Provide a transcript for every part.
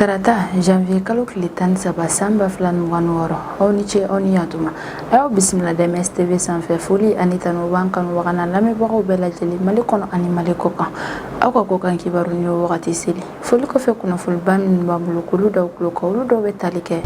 tarata janvier kalo tile tan saba san ba fila ni mugan wɔɔrɔ aw ni ce aw ni yantuma a y'aw bisimila dms tv sanfɛ foli ani tanu b'an kanubagaw n'an lamɛnbagaw bɛɛ lajɛlen mali kɔnɔ ani mali kɔkan aw ka kɔkan kibaru ni wagati seli foli kɔfɛ kunnafoniba minnu b'an bolo k'olu d'aw tulo kan olu dɔw bɛ tali kɛ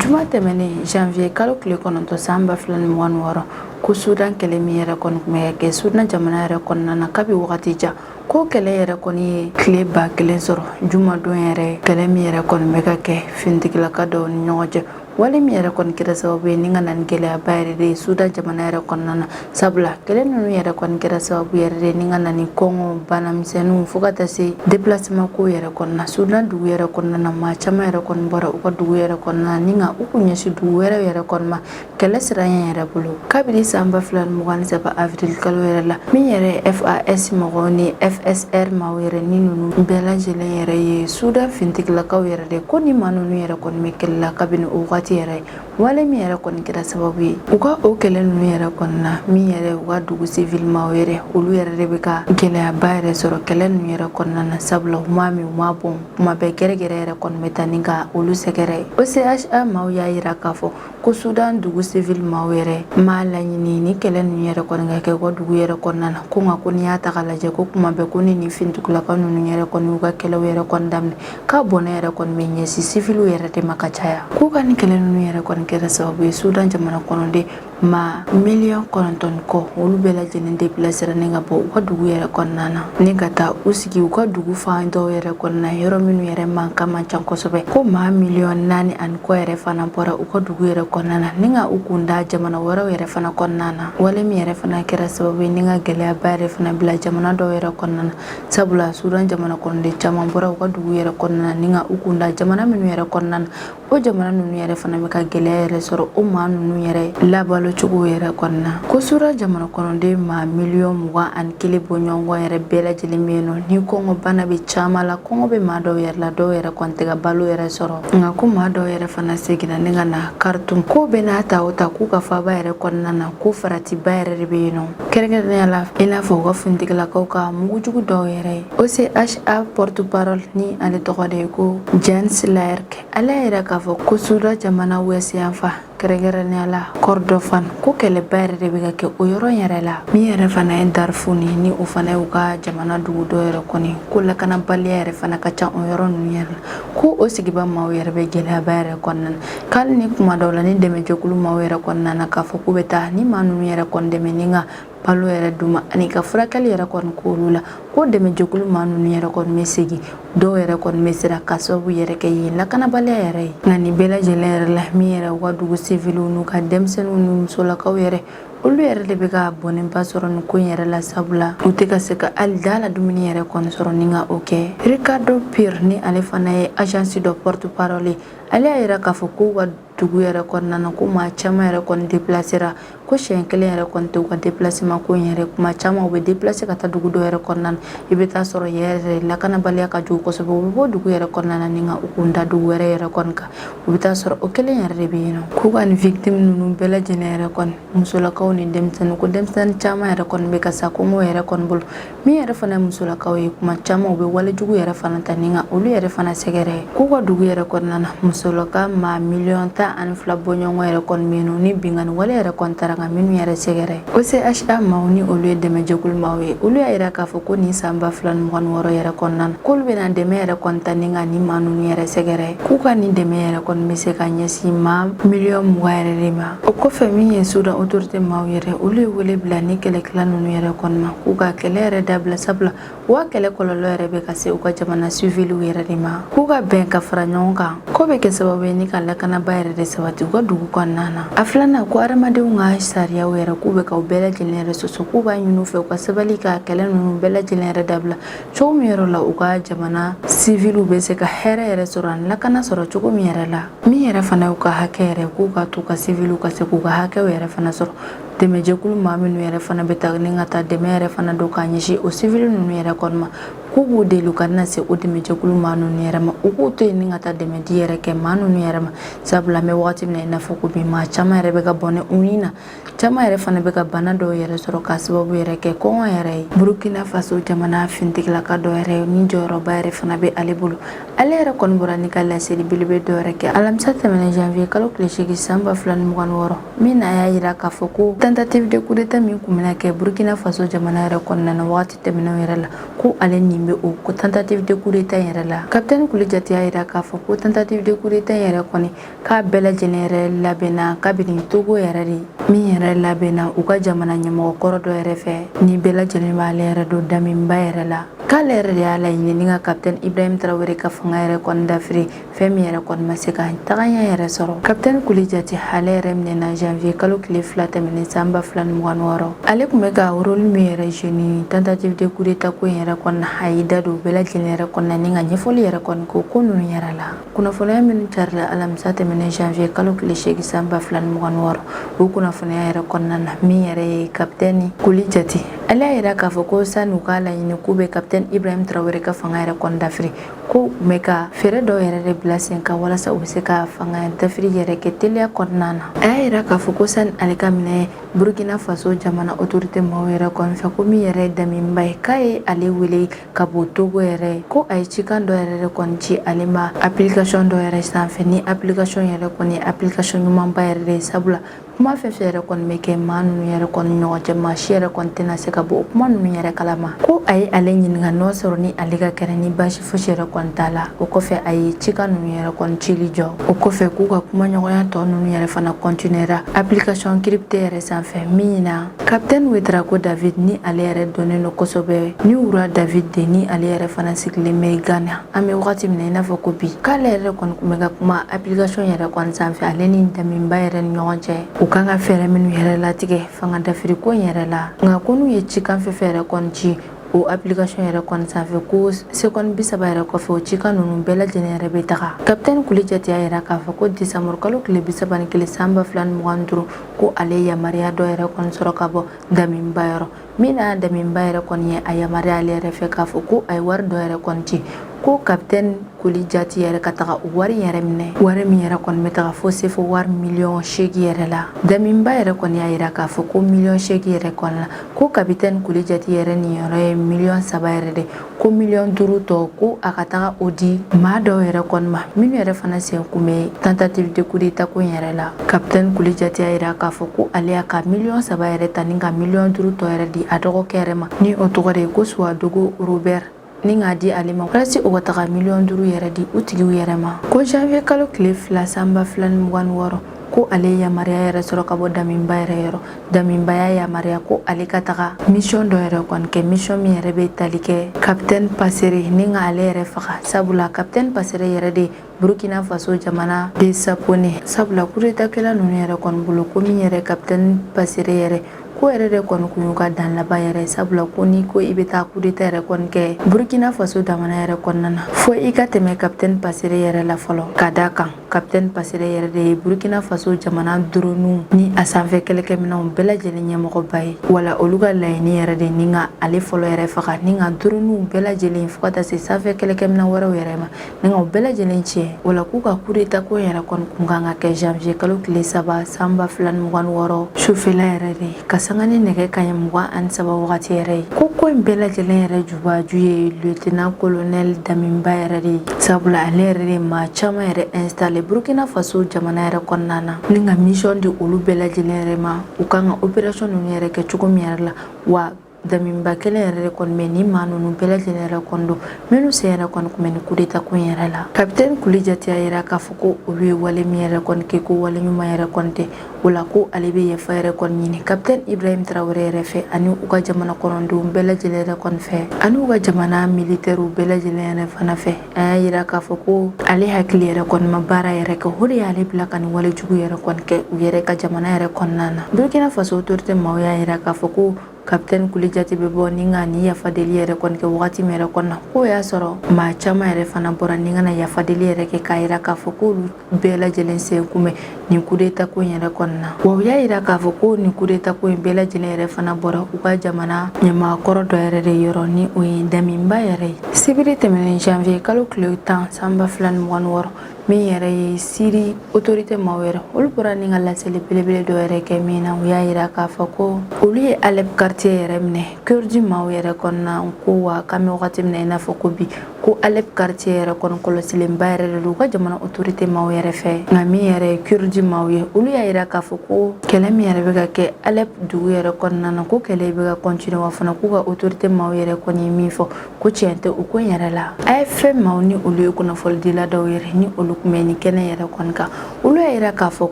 juma tɛmɛnen janvier kalo tile kɔnɔntɔn san ba fila ni mugan wɔɔrɔ ko sudan kɛlɛ min yɛrɛ kɔni tun bɛ kɛ sudan jamana yɛrɛ kɔnɔna na kabi wagati jan ko kɛlɛ yɛrɛ kɔni ye tile ba kelen sɔrɔ jumadon yɛrɛ kɛlɛ min yɛrɛ kɔni bɛ ka kɛ finitigilaka dɔw ni ɲɔgɔn cɛ wale min yɛrɛ kɔni kɛra sababu ye ni ka na ni gɛlɛyaba yɛrɛ de ye sudan jamana yɛrɛ kɔnɔna na sabula kɛlɛ ninnu yɛrɛ kɔni kɛra sababu yɛrɛ de ni ka na ni kɔngɔ banamisɛnninw fo ka taa se déplacement ko yɛrɛ kɔnɔna sudan dugu yɛrɛ kɔnɔna na maa caman yɛrɛ kɔni bɔra u ka dugu yɛrɛ kɔnɔna ni ka u kun ɲɛsin dugu wɛrɛ yɛrɛ kɔnɔna kɛlɛ siranɲɛ yɛrɛ bolo kabini san ba fila ni mugan ni saba avril kalo yɛrɛ la min yɛrɛ fas mɔgɔw ni fsr maaw yɛrɛ ni nunu bɛɛ lajɛlen yɛrɛ ye sudan fintigilakaw yɛrɛ de ko ni maa nunu yɛrɛ kɔni bɛ kɛlɛ la kabini o wagati yɛrɛ wale min yɛrɛ kɔni kɛra sababu ye u ka o kɛlɛ nunu yɛrɛ kɔnɔna min yɛrɛ u ka dugu civil maaw yɛrɛ olu yɛrɛ de bɛ ka gɛlɛyaba yɛrɛ sɔrɔ kɛlɛ nunu yɛrɛ kɔnɔna na sabula u m'a min u m'a bɔn kuma bɛɛ gɛrɛgɛrɛ yɛrɛ kɔni bɛ taa ni ka olu sɛgɛrɛ ocha maaw y'a yira k'a fɔ ko sudan dugu civil maaw yɛrɛ m'a laɲini ni kɛlɛ ninnu yɛrɛ kɔni ka kɛ u ka dugu yɛrɛ kɔnɔna na ko nka ko n'i y'a ta k'a lajɛ ko kuma bɛɛ ko ni nin finitigilaka ninnu yɛrɛ kɔni y'u ka kɛlɛw yɛrɛ kɔni daminɛ k'a bɔnɛ yɛrɛ kɔni bɛ ɲɛsin siviliw yɛrɛ de ma ka caya k'u ka nin kɛlɛ ninnu yɛrɛ kɔni kɛra sababu ye sudan jamana kɔnɔden maa miliyɔn kɔnɔntɔn kɔ olu bɛɛ lajɛlen déplacera ni ka bɔ u ka dugu yɛrɛ kɔnɔna na ni ka taa u sigi u ka dugu fan dɔw yɛrɛ kɔnɔna yɔrɔ minnu yɛrɛ mankan man ca kosɛbɛ ko maa miliyɔn naani ani kɔ yɛrɛ fana bɔra u ka dugu yɛrɛ kɔnɔna na ni ka u kun da jamana wɛrɛw yɛrɛ fana kɔnɔna na wale min yɛrɛ fana kɛra sababu ye ni ka gɛlɛyaba yɛrɛ fana bila jamana dɔw yɛrɛ kɔnɔna na sabula sudan jamana kɔnɔden caman bɔra u ka dugu yɛrɛ kɔnɔna na ni ka u kun da jamana minnu yɛrɛ kɔnɔna na o jamana ninnu yɛrɛ fana bɛ ka gɛlɛya yɛrɛ sɔrɔ o maa ninnu yɛrɛ labalo cogo yɛrɛ kɔnɔna ko sudan jamana kɔnɔden maa miliyɔn mugan ani kelen bɔ ɲɔgɔn yɛrɛ bɛɛ lajɛlen bɛ yen nɔ ni kɔngɔ bana bɛ caman la kɔngɔ bɛ maa dɔw yɛrɛ la dɔw yɛrɛ kɔni tɛ ka balo yɛrɛ sɔrɔ nka ko maa dɔw yɛrɛ fana seginna ni ka na khartoum k'o bɛɛ n'a ta o ta k'u ka faaba yɛrɛ kɔnɔna na ko faratiba yɛrɛ de bɛ yen nɔ kɛrɛnkɛrɛnnenya la i n'a fɔ u ka finitigilakaw ka mugujugu dɔw yɛrɛ ye ocha porte parole ni ale tɔgɔ de ye ko jens laerke ale y'a yira k'a fɔ ko sudan jamana ouest yanfan kɛrɛnkɛrɛnnenya la kordofan ko kɛlɛba yɛrɛ de bɛ ka kɛ o yɔrɔ yɛrɛ la min yɛrɛ fana ye darfur ye ni o fana y'u ka jamana dugu dɔ yɛrɛ kɔni ko lakanabaliya yɛrɛ fana ka ca o yɔrɔ ninnu yɛrɛ la ko o sigiba maaw yɛrɛ bɛ gɛlɛyaba yɛrɛ kɔnɔna na k'ali ni kuma dɔw la ni dɛmɛjɛkulu maaw yɛrɛ kɔnɔna na k'a fɔ k'u bɛ taa ni maa ninnu yɛrɛ kɔni dɛmɛ ni ka balo yɛrɛ d'u ma ani ka furakɛli yɛrɛ kɔni k'olu la ko dɛmɛjɛkulu maa ninnu yɛrɛ kɔni bɛ segin dɔw yɛrɛ kɔni bɛ siran k'a sababu yɛrɛ kɛ yen lakanabaliya yɛrɛ ye nka nin bɛɛ lajɛlen yɛrɛ la min yɛrɛ u ka dugu siviliw n'u ka denmisɛnninw ni musolakaw yɛrɛ olu yɛrɛ de bɛ ka bɔnɛba sɔrɔ nin ko in yɛrɛ la sabula u tɛ ka se ka hali da la dumuni yɛrɛ kɔni sɔrɔ ni ka o kɛ ricardo pire ni ale fana ye agence dɔ porte parole ye ale y'a yira k'a fɔ k'u ka dugu yɛrɛ kɔnɔna na ko maa caman yɛrɛ kɔni depilasera ko siɲɛ kelen yɛrɛ kɔni tɛ u ka depilaseman ko in yɛrɛ kuma caman u bɛ depilase ka taa dugu dɔ yɛrɛ kɔnɔna na i bɛ taa sɔrɔ yɛrɛ lakanabaliya ka jugu kosɛbɛ u bɛ bɔ dugu yɛrɛ kɔnɔna na ni ka u kun da dugu wɛrɛ yɛrɛ kɔni kan u bɛ taa sɔrɔ o kelen yɛrɛ de bɛ yen nɔ k'u ka nin victime ninnu bɛɛ lajɛlen yɛrɛ kɔni musolakaw ni denmisɛnnin ko denmisɛnnin caman yɛrɛ kɔni bɛ ka sa kɔngɔ yɛrɛ kɔni bolo min yɛrɛ fana musolakaw ye kuma caman u bɛ walejugu yɛrɛ fana ta ni ka olu yɛrɛ fana sɛgɛrɛ k'u ka dugu yɛrɛ kɔnɔna na musolaka maa miliyɔn tan ani fila bɔɲɔgɔn yɛrɛ kɔni bɛ yen ni binkanni wale yɛrɛ kɔni tara ka minnu yɛrɛ sɛgɛrɛ OCHA maaw ni olu ye dɛmɛjɛkulu maaw ye olu y'a yira k'a fɔ ko nin san ba fila ni mugan ni wɔɔrɔ yɛrɛ kɔnɔna na k'olu bɛna dɛmɛ yɛrɛ kɔni ta ni ka nin maa ninnu yɛrɛ sɛgɛrɛ k'u ka nin dɛmɛ yɛrɛ kɔni bɛ se ka ɲɛsin maa miliyɔn mugan yɛrɛ de ma o kɔfɛ min ye sudan autorité maaw yɛrɛ olu ye wele bila ni kɛlɛkɛla ninnu yɛrɛ kɔni ma k'u ka kɛlɛ yɛrɛ dabila sabula u ka kɛlɛ kɔlɔlɔ yɛrɛ bɛ ka se u ka jamana siviliw yɛrɛ de ma k'u ka bɛn ka fara ɲɔgɔn kan k'o bɛ kɛ sababu ye ni ka lakanaba yɛrɛ de sabati u ka dugu kɔnɔna na a filanan ko adamadenw ka sariyaw yɛrɛ k'u bɛ ka u bɛɛ lajɛlen yɛrɛ sɔsɔ k'u b'a ɲini u fɛ u ka sabali ka kɛlɛ ninnu bɛɛ lajɛlen yɛrɛ dabila cogo min yɛrɛ la u ka jamana siviliw bɛ se ka hɛrɛ yɛrɛ sɔrɔ ani lakana sɔrɔ cogo min yɛrɛ la min yɛrɛ fana y'u ka hakɛ yɛrɛ k'u ka to ka siviliw ka se k'u ka hakɛw yɛrɛ fana sɔrɔ dɛmɛjɛkulu maa minnu yɛrɛ fana bɛ taa ni ka taa dɛmɛ yɛrɛ fana don k'a ɲɛsin o sivili ninnu yɛrɛ kɔni ma k'u b'u deli u kana se o dɛmɛjɛkulu maa ninnu yɛrɛ ma u k'u to yen ni ka taa dɛmɛ di yɛrɛ kɛ maa ninnu yɛrɛ ma sabula an bɛ wagati min na i n'a fɔ ko bi maa caman yɛrɛ bɛ ka bɔnɛ u ni na caman yɛrɛ fana bɛ ka bana dɔw yɛrɛ sɔrɔ k'a sababu yɛrɛ kɛ kɔngɔ yɛrɛ ye burukina faso jamana finitigilaka dɔ yɛrɛ ni jɔyɔrɔba yɛrɛ fana bɛ ale bolo ale yɛrɛ kɔni bɔra ni ka laseli belebele dɔ yɛrɛ kɛ alamisa tɛmɛnen janvier kalo tile seegin san ba fila ni mugan ni wɔɔrɔ min na a y'a yira k'a fɔ ko tentative de coup d'etat min kun bɛna kɛ burkina faso jamana yɛrɛ kɔnɔna na wagati tɛmɛnenw yɛrɛ la ko ale nin bɛ o ko tentative de coup d'etat yɛrɛ la kapitɛni kulijati y'a yira k'a fɔ ko tentative de coup d'etat yɛrɛ kɔni k'a bɛɛ lajɛlen yɛrɛ labɛnna kabini togo yɛrɛ de min yɛrɛ labɛnna u ka jamana ɲɛmɔgɔ kɔrɔ dɔ yɛrɛ fɛ ni bɛɛ lajɛlen b'ale yɛrɛ dɔn damiba yɛrɛ la k'ale yɛrɛ de y'a laɲini ni ka kapitɛni ibrahim traoré ka fanga yɛrɛ kɔni dafiri fɛn min yɛrɛ kɔni ma se ka tagaɲɛ yɛrɛ sɔrɔ kapitɛni kulijati ale yɛrɛ minɛna janvier kalo tile fila tɛmɛnen san ba fila ni mugan wɔɔrɔ ale kun bɛ ka role min yɛrɛ jouer nin tentative de coup d'etat ko in yɛrɛ kɔnɔna a y'i da don bɛɛ lajɛlen yɛrɛ kɔnɔna ni ka ɲɛfɔli yɛrɛ kɔni kɛ ko ninnu yɛrɛ la kunnafoniya minnu carila alamisa tɛmɛnen janvier kalo tile seegin san ba fila ni mugan ni wɔɔrɔ o kunnafoniya yɛrɛ kɔnɔna na min yɛrɛ ye kapitɛni kuli jati ale y'a yira k'a fɔ ko san'u k'a laɲini k'u bɛ kapitɛni ibrahim tarawele ka fanga yɛrɛ kɔni dafiri ko u bɛ ka fɛɛrɛ dɔw yɛrɛ de bila sen kan walasa u bɛ se ka fanga dafiri yɛrɛ kɛ teliya kɔnɔna na a y'a yira k'a fɔ ko sani ale ka minɛ burkina faso jamana otorite maaw yɛrɛ kɔni fɛ ko min yɛrɛ ye daminba ye k'a ye ale wele ka bɔ togo yɛrɛ ko a ye cikan dɔ yɛrɛ de kɔni ci ale ma application dɔ yɛrɛ sanfɛ ni application yɛrɛ kɔni ye application ɲumanba yɛrɛ de ye sabula kuma fɛn fɛn yɛrɛ kɔni bɛ kɛ maa ninnu yɛrɛ kɔni ɲɔgɔn cɛ maa si yɛrɛ kɔni tɛna se ka bɔ o kuma ninnu yɛrɛ kalama ko a ye ale ɲininka n'o sɔrɔ ni ale ka kɛnɛ ni baasi fosi yɛrɛ kɔni t'a la o kɔfɛ a ye cikan ninnu yɛrɛ kɔni cili jɔ o kɔfɛ k'u ka kumaɲɔgɔnya tɔ ninnu yɛrɛ fana kɔntinera application crypté yɛrɛ sanfɛ min na Capitaine Ouédraogo David ni ale yɛrɛ dɔnnen don kosɛbɛ ni wura David de ni ale yɛrɛ fana sigilen bɛ Ghana an bɛ wagati min na i n'a fɔ ko bi k'ale yɛrɛ kɔni kun bɛ ka kuma application yɛrɛ kɔni sanfɛ ale ni daminba yɛrɛ ni ɲɔgɔn cɛ u kan ka fɛɛrɛ minnu yɛrɛ latigɛ fanga dafiri ko in yɛrɛ la nka ko n'u ye cikan fɛn fɛn yɛrɛ kɔni ci o application yɛrɛ kɔni sanfɛ ko sekɔni bi saba yɛrɛ kɔfɛ o cikan ninnu bɛɛ lajɛlen yɛrɛ bɛ taga kapitɛni kuli jati y'a yira k'a fɔ ko desanburukalo tile bi saba ni kelen san ba fila ni mugan ni duuru ko ale yamaruya dɔ yɛrɛ kɔni sɔrɔ ka bɔ daminba yɔrɔ min na daminba yɛrɛ kɔni ye a yamaruya ale yɛrɛ fɛ k'a fɔ ko a ye wari dɔ yɛrɛ kɔni ci ko kapitɛni kuli jati yɛrɛ ka taga wari yɛrɛ minɛ wari min yɛrɛ kɔni bɛ taga fo sefa wari miliyɔn seegi yɛrɛ la daminba yɛrɛ kɔni y'a yira k'a fɔ ko miliyɔn seegi yɛrɛ kɔni la ko kapitɛni kuli jati yɛrɛ niyɔrɔ ye miliyɔn saba yɛrɛ de ko miliyɔn duuru tɔ ko a ka taga o di maa dɔw yɛrɛ kɔni ma minnu yɛrɛ fana sen kun bɛ tentative de coup d'état ko in yɛrɛ la kapitɛni kuli jati y'a yira k'a fɔ ko ale y'a ka miliyɔn saba yɛrɛ ta ni ka miliyɔn duuru tɔ yɛrɛ di a dɔgɔkɛ yɛrɛ ma ni o tɔgɔ de ye ko suwadogo robert ni k'a di ale ma walasi o ka taga miliyɔn duuru yɛrɛ di u tigiw yɛrɛ ma ko janvier kalo tile fila san ba fila ni mugan ni wɔɔrɔ ko ale ye yamaruya yɛrɛ sɔrɔ ka bɔ daminba yɛrɛ yɔrɔ Daminba y'a yamaruya ko ale ka taga mission dɔ yɛrɛ kɔni kɛ mission min yɛrɛ bɛ tali kɛ capitaine Pasere ni ka ale yɛrɛ faga sabula capitaine Pasere yɛrɛ de Burkina Faso jamana de sapone sabula coup d'état kɛla ninnu yɛrɛ kɔni bolo ko min yɛrɛ capitaine Pasere yɛrɛ ko yɛrɛ de kɔni kun y'u ka dan laban yɛrɛ sabula ko n'i ko i bɛ taa kudeta yɛrɛ kɔni kɛ burkina faso jamana yɛrɛ kɔnɔna na fo i ka tɛmɛ kapitɛni pasere yɛrɛ la fɔlɔ ka d'a kan Capitaine Pasere yɛrɛ de ye Burkina Faso jamana dronew ni a sanfɛ kɛlɛkɛminɛnw bɛɛ lajɛlen ɲɛmɔgɔba ye wala olu ka laɲini yɛrɛ de ni ka ale fɔlɔ yɛrɛ faga ni ka dronew bɛɛ lajɛlen fo ka taa se sanfɛ kɛlɛkɛminɛn wɛrɛw yɛrɛ ma ni ka o bɛɛ lajɛlen tiɲɛ wala k'u ka coup d'état ko yɛrɛ kɔni kun kan ka kɛ janvier kalo tile saba san ba fila ni mugan ni wɔɔrɔ sufɛla yɛrɛ de ka sanga ni nɛgɛ kanɲɛ mugan ani saba wagati yɛrɛ ye ko ko in bɛɛ lajɛlen yɛrɛ jubaju ye lieutenant colonel damiba yɛrɛ de ye sabula ale yɛrɛ de maa caman yɛrɛ installé burkina faso jamana yɛrɛ kɔnɔna na ni ka mission di olu bɛɛ lajɛlen yɛrɛ ma u kan ka opération ninnu yɛrɛ kɛ cogo min yɛrɛ la wa Damiba kelen yɛrɛ de kɔni bɛ ni maa ninnu bɛɛ lajɛlen yɛrɛ kɔni dɔn minnu sen yɛrɛ kɔni kun bɛ ni kudeta ko in yɛrɛ la kapiteni kulijati y'a yira k'a fɔ ko olu ye wale min yɛrɛ kɔni kɛ ko wale ɲuman yɛrɛ kɔni tɛ o la ko ale bɛ yafa yɛrɛ kɔni ɲini kapiteni ibrahim traoré yɛrɛ fɛ ani u ka jamana kɔnɔndenw bɛɛ lajɛlen yɛrɛ kɔni fɛ ani u ka jamana militɛriw bɛɛ lajɛlen yɛrɛ fana fɛ a y'a yira k'a fɔ ko ale hakili yɛrɛ kɔni ma baara yɛrɛ kɛ o de y'ale bila ka nin wale jugu yɛrɛ kɔni kɛ u yɛrɛ ka jamana yɛrɛ kɔnɔna na burkina faso autorité maaw y'a yira k'a fɔ ko kapitɛni kulijati bɛ bɔ ni ka ni yafadeli yɛrɛ kɔni kɛ wagati min yɛrɛ kɔnɔna k'o y'a sɔrɔ maa caman yɛrɛ fana bɔra ni ka na yafadeli yɛrɛ kɛ k'a yira k'a fɔ k'olu bɛɛ lajɛlen sen kun bɛ nin kudeta ko in yɛrɛ kɔnɔna na wa u y'a yira k'a fɔ ko nin kudeta ko in bɛɛ lajɛlen yɛrɛ fana bɔra u ka jamana ɲɛmaakɔrɔ dɔ yɛrɛ de yɔrɔ ni o ye damiba yɛrɛ ye sibiri tɛmɛnen janvier kalo tile tan san ba fila ni mugan ni wɔɔrɔ min yɛrɛ ye siri otorite maaw yɛrɛ olu bɔra ni ka laseli belebele dɔ yɛrɛ kɛ min na u y'a yira k'a fɔ ko olu ye alep karitiye yɛrɛ minɛ kurdi maaw yɛrɛ kɔnɔna ko wa k'an bɛ wagati min na i n'a fɔ ko bi ko alep karitiye yɛrɛ kɔni kɔlɔsilenba yɛrɛ de don u ka jamana otorite maaw yɛrɛ fɛ nka min yɛrɛ ye kurdi maaw ye olu y'a yira k'a fɔ ko kɛlɛ min yɛrɛ bɛ ka kɛ alep dugu yɛrɛ kɔnɔna na ko kɛlɛ bɛ ka continuer wa fana k'u ka otorite maaw yɛrɛ kɔni ye min fɔ ko tiɲɛ tɛ o ko in yɛrɛ la AFP maaw ni olu ye kunnafonidila dɔw yɛrɛ ni olu kun bɛ ni kɛnɛ yɛrɛ kɔni kan olu y'a yira k'a fɔ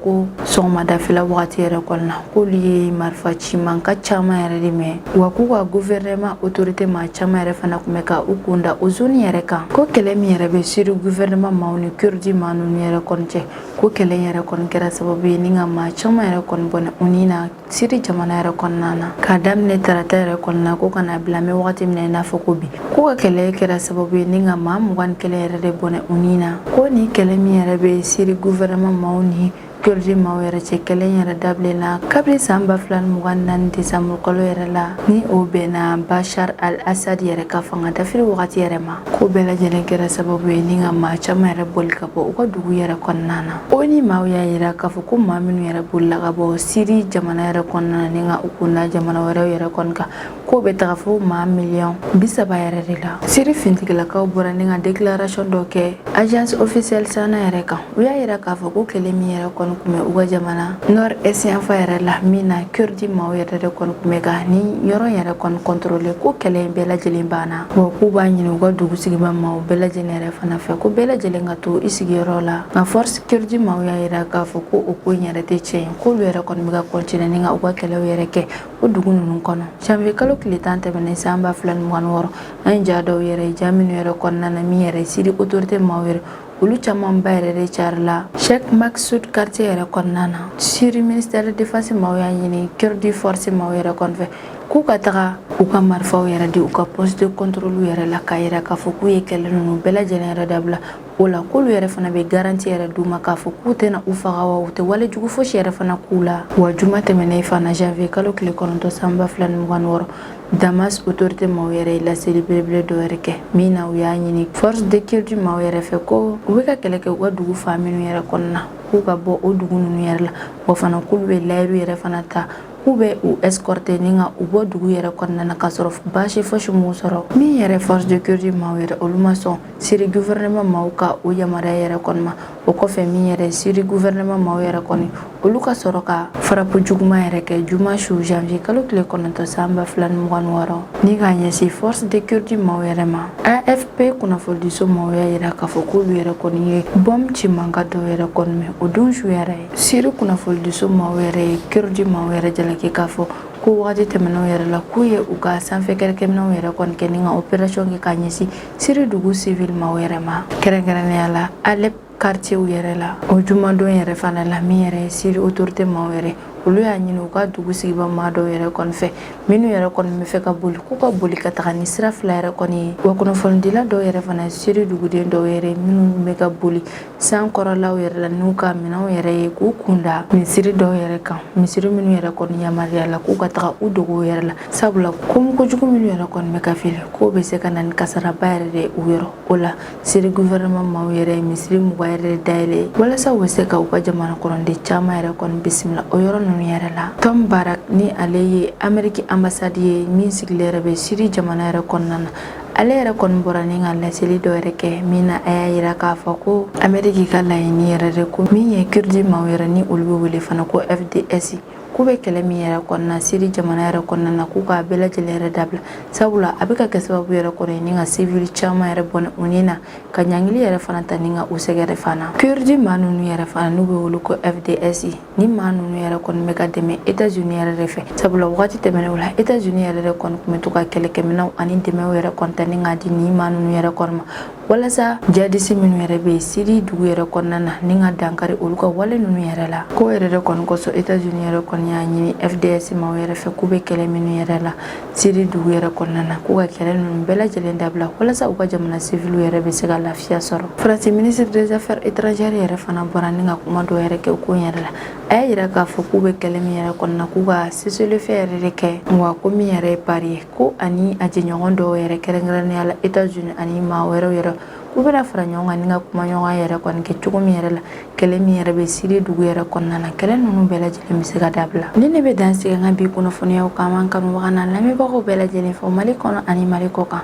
ko sɔgɔmadafɛla wagati yɛrɛ kɔnɔna k'olu ye marifa ci mankan caman yɛrɛ de mɛn wa k'u ka guvɛrɛnɛma otorite maa caman yɛrɛ fana kun bɛ ka u kun da o zoni yɛrɛ kan ko kɛlɛ min yɛrɛ bɛ siri guvɛrɛnɛma maaw ni kurdi maa ninnu yɛrɛ kɔni cɛ ko kɛlɛ yɛrɛ kɔni kɛra sababu ye ni ka maa caman yɛrɛ kɔni bɔnɛ u ni na siri jamana yɛrɛ kɔnɔna na k'a daminɛ tarata yɛrɛ kɔnɔna ko ka na bila an bɛ wagati min na i n'a fɔ ko bi k'u ka kɛlɛ in kɛra sababu ye ni ka maa mugan ni kelen yɛrɛ de bɔnɛ u ni na ko ni kɛlɛ min yɛrɛ bɛ siri guvɛrɛnman maaw ni kurdi maaw yɛrɛ cɛ kɛlɛ in yɛrɛ daminɛna kabiri san ba fila ni mugan ni naani desanburu kalo yɛrɛ la ni o bɛnna bashar al assad yɛrɛ ka fanga dafiri wagati yɛrɛ ma k'o bɛɛ lajɛlen kɛra sababu ye ni ka maa caman yɛrɛ boli ka bɔ u ka dugu yɛrɛ kɔnɔna na ONU maaw y'a yira k'a fɔ ko maa minnu yɛrɛ bolila ka bɔ siri jamana yɛrɛ kɔnɔna na ni ka u kun da jamana wɛrɛw yɛrɛ kɔni kan k'o bɛ taga fo maa miliyɔn bi saba yɛrɛ de la siri finitigilakaw bɔra ni ka déclaration dɔ kɛ agence officielle sana yɛrɛ kan u y'a yira k'a fɔ ko kɛlɛ min yɛrɛ kɔni kun bɛ u ka jamana nord est yanfan yɛrɛ la min na kurdi maaw yɛrɛ de kɔni kun bɛ ka ni yɔrɔ yɛrɛ kɔni contrôler ko kɛlɛ in bɛɛ lajɛlen banna wa k'u b'a ɲini u ka dugu sigibaa maaw bɛɛ lajɛlen yɛrɛ fana fɛ ko bɛɛ lajɛlen ka to i sigiyɔrɔ la nka force kurdi maaw y'a yira k'a fɔ ko o ko in yɛrɛ tɛ tiɲɛ ye k'olu yɛrɛ kɔni bɛ ka continuer ni ka u ka kɛlɛw yɛrɛ kɛ o dugu ninnu kɔnɔ janvier kalo tile tan tɛmɛnen san ba fila ni mugan wɔɔrɔ an ye ja dɔw yɛrɛ ye ja minnu yɛrɛ kɔnɔna na min yɛrɛ siri autorité maaw yɛrɛ olu camanba yɛrɛ de carila Sheikh Maksoud quartier yɛrɛ kɔnɔna na Syrie ministère de défense maaw y'a ɲini Kurdi force maaw yɛrɛ kɔni fɛ k'u ka taga u ka marifaw yɛrɛ di u ka poste de contrôle yɛrɛ la k'a yira k'a fɔ k'u ye kɛlɛ ninnu bɛɛ lajɛlen yɛrɛ dabila o la k'olu yɛrɛ fana bɛ garanti yɛrɛ d'u ma k'a fɔ k'u tɛna u faga wa u tɛ wale jugu fosi yɛrɛ fana k'u la wa juma tɛmɛnen fana janvier kalo tile kɔnɔntɔn san ba fila ni mugan ni wɔɔrɔ Damas autorité maaw yɛrɛ ye laseli belebele dɔ yɛrɛ kɛ min na u y'a ɲini force de kurdi maaw yɛrɛ fɛ ko u bɛ ka kɛlɛ kɛ u ka dugu fan minnu yɛrɛ kɔnɔna k'u ka bɔ o dugu ninnu yɛrɛ la wa fana k'olu bɛ layiru yɛrɛ fana ta k'u bɛ u escorter ni ka u bɔ dugu yɛrɛ kɔnɔna na k'a sɔrɔ baasi fosi m'u sɔrɔ min yɛrɛ force de kurdi maaw yɛrɛ olu ma sɔn siri gouvernement maaw ka o yamaruya yɛrɛ kɔni ma o kɔfɛ min yɛrɛ siri gouvernement maaw yɛrɛ kɔni olu ka sɔrɔ ka frappe juguman yɛrɛ kɛ juma su janvier kalo tile kɔnɔntɔn san ba fila ni mugan ni wɔɔrɔ ni k'a ɲɛsin force de kurdi maaw yɛrɛ ma afp kunnafonidiso maaw y'a yira k'a fɔ k'olu yɛrɛ kɔni ye bɔm ci mankan dɔw yɛrɛ kɔni mɛn o don su yɛrɛ ye siri kunnafonidiso maaw yɛrɛ ye kurdi maaw yɛrɛ jalaki k'a fɔ ko wagati tɛmɛnenw yɛrɛ la k'u ye u ka sanfɛ kɛlɛkɛminɛw yɛrɛ kɔni kɛ ni ka operation kɛ k'a ɲɛsin siri dugu sivili maaw yɛrɛ ma kɛrɛnkɛrɛnnenya la alep kartiyew yɛrɛ la o jumadon yɛrɛ fana la min yɛrɛ ye siri otorite maaw yɛrɛ olu y'a ɲini u ka dugu sigibaa maa dɔw yɛrɛ kɔni fɛ minnu yɛrɛ kɔni bɛ fɛ ka boli k'u ka boli ka taga ni sira fila yɛrɛ kɔni ye wa kunnafonidila dɔw yɛrɛ fana siri duguden dɔw yɛrɛ minnu bɛ ka boli san kɔrɔlaw yɛrɛ la n'u ka minɛnw yɛrɛ ye k'u kunda misiri dɔw yɛrɛ kan misiri minnu yɛrɛ kɔni yamaruyala k'u ka taga u dogow yɛrɛ la sabula komi kojugu minnu yɛrɛ kɔni bɛ ka fili k'o bɛ se ka na ni kasaraba yɛrɛ de u yɔrɔ o la siri guvɛrɛnɛman maaw yɛrɛ ye misiri mugan yɛrɛ dayɛlɛ walasa u bɛ se ka u ka jamana kɔnɔden caman yɛrɛ kɔni bisimila o yɔrɔ ninnu yɛrɛ la tom barak ni ale ye ameriki anbasadi ye min sigilen yɛrɛ bɛ siri jamana yɛrɛ kɔnɔna na ale yɛrɛ kɔni bɔra ni ka laseli dɔ yɛrɛ kɛ min na a y'a yira k'a fɔ ko ameriki ka laɲini yɛrɛ de ko min ye kurdi maaw yɛrɛ ni olu bɛ wele fana ko fds k'u bɛ kɛlɛ min yɛrɛ kɔnɔna siri jamana yɛrɛ kɔnɔna na k'u k'a bɛɛ lajɛlen yɛrɛ dabila sabula a bɛ ka kɛ sababu yɛrɛ kɔni ye ni ka sivili caman yɛrɛ bɔnɛ u ni na ka ɲangili yɛrɛ fana ta ni ka u sɛgɛn yɛrɛ fana kurdi maa ninnu yɛrɛ fana n'u bɛ wele ko fds ni maa ninnu yɛrɛ kɔni bɛ ka dɛmɛ etats unis yɛrɛ de fɛ sabula wagati tɛmɛnenw la etats unis yɛrɛ de kɔni tun bɛ to ka kɛlɛkɛminɛw ani dɛmɛw yɛrɛ kɔni ta ni k'a di nin maa ninnu yɛrɛ kɔni ma walasa jadisi minnu yɛrɛ bɛ siri dugu yɛrɛ kɔnɔna na ni ka dankari olu ka wale ninnu yɛrɛ la k'o yɛrɛ de kɔni kosɔn etats unis yɛrɛ kɔni y'a ɲini fds maaw yɛrɛ fɛ k'u bɛ kɛlɛ minnu yɛrɛ la Siri dugu yɛrɛ kɔnɔna na k'u ka kɛlɛ ninnu bɛɛ lajɛlen dabila walasa u ka jamana civil yɛrɛ bɛ se ka lafiya sɔrɔ France ministre des affaires étrangères yɛrɛ fana bɔra ni ka kuma dɔw yɛrɛ kɛ ko yɛrɛ la a y'a yira k'a fɔ k'u bɛ kɛlɛ min yɛrɛ kɔnɔna k'u ka cessez-le-feu yɛrɛ de kɛ wa ko min yɛrɛ ye Paris ye ko ani a jɛɲɔgɔn dɔw yɛrɛ kɛrɛnkɛrɛnnenya la États-Unis ani maa wɛrɛ yɛrɛ u bɛna fara ɲɔgɔn kan ni ka kumaɲɔgɔnya yɛrɛ kɔni kɛ cogo min yɛrɛ la kɛlɛ min yɛrɛ bɛ siri dugu yɛrɛ kɔnɔna na kɛlɛ ninnu bɛɛ lajɛlen bɛ se ka dabila nin de bɛ dan sigi an ka bi kunnafoniyaw kan an kanubaga n'an lamɛnbagaw bɛɛ lajɛlen fo mali kɔnɔ ani mali kɔ kan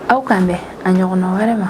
aw k'an bɛn a ɲɔgɔnna wɛrɛ ma